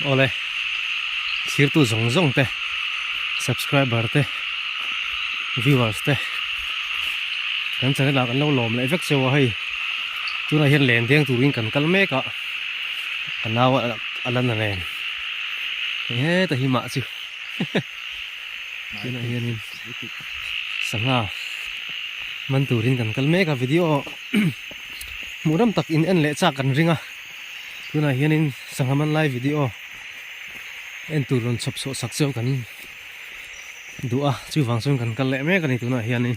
Awle thirtu zawng zawng te subscriber te viewers te kan channel ah kan lo lawm leh vek cheu a hei tunah hian len deng turin kan kal mek a ka nau a a la na nen hei heta hi mah chu tunah hianin sangha man turin kan kal mek a video hmuh ram tak in en leh chak kan ring a. tunah hianin sangha man lai video en tur rawn chhawp chhuah sak chiang kan duh a chuvang chuan kan kal leh mek a ni tunah hianin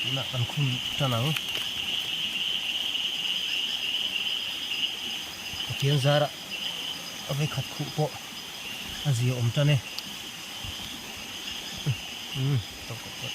tihna kan khum tan ang pathian zara a vei khat khuh pawh a zia awm tan e umm tawk tawk tawk.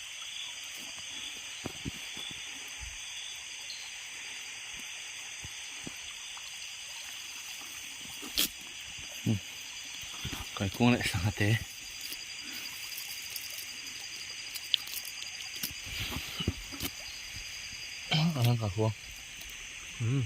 kai kung leh sangha te eng ang ka hua umm.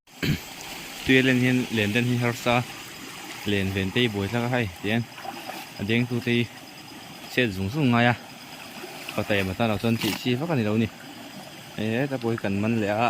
Tuia len hian len dan hi harsa len vente i buai thlak a hai tiang a deng tu te hi chhet zung zung ngai a pata em atan lo chuan tih chi vak a ni lo ni hei heta pawh hi kan man leh a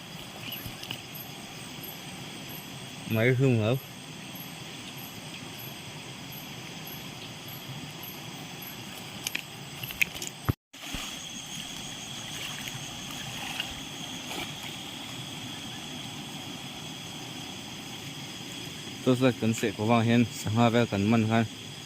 Mai hlung lo. Torchlight kan seh kawh vang hian sangha vel kan man khan.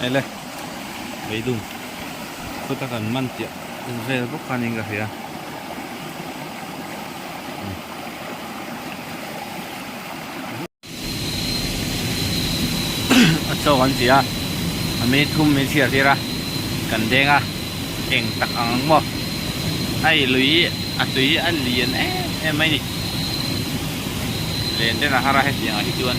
Hei le, Beidun chuta kan man tih vel bawk khanin ka hria. A chaw an ti a, a minute thum min chhiar tir a, kan deng a, eng tak ang ang maw. Hei lui hi a tui a lian em em mai ni. Len ten a har a hetiang ah hi chuan.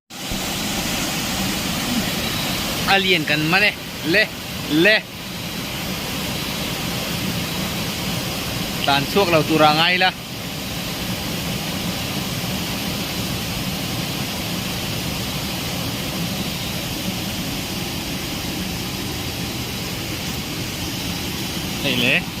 Alien kan man e le le tlan chhuak lo tura ngai la hei le.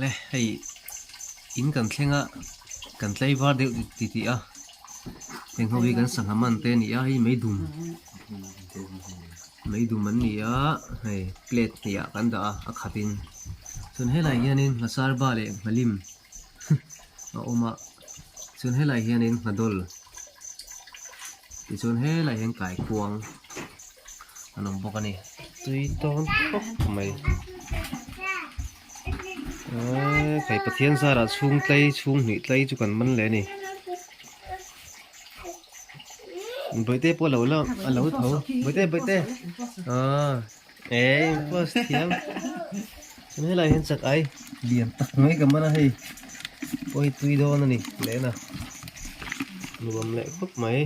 le hei in kan thlenga kan tlai var deuh ti ti a heng ho hi kan sahnam an te a ni a hei mai dum. Mei dum an ni a, hei plate hniah kan dah a, a khat in chuan helai hian in hna sar ba leh hna lim a awm a, chuan helai hian in hna dawl tichuan helai hian kai khuang an awm bawk a ni. Tui tawn khawp mai eeh hei Pathian zara chhungtlai chhunghnih tlai chu kan man leh a ni. Baite pawh lo lo a lo tho Baite Baite ah eh impost thiam kan helai hian chak ai lian tak mai ka man a hei pawh hi tui dawn a ni lehna nuam leh khawp mai